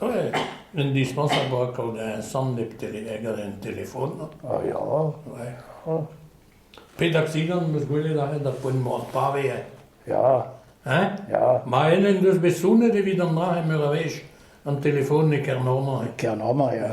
Ouais, indispensable oa kaout eñ samm nep teleger en telefon. Ah ya. Ouais, hañ. Pet aksidant 'm eus gwelet aze d'ar poent-mañ ar pave eñ? Ya, Hein? ya. Ma ene en deus bet sounnet evit an dra meur a wech, an telefon e Kernorman. e Kernorman ya.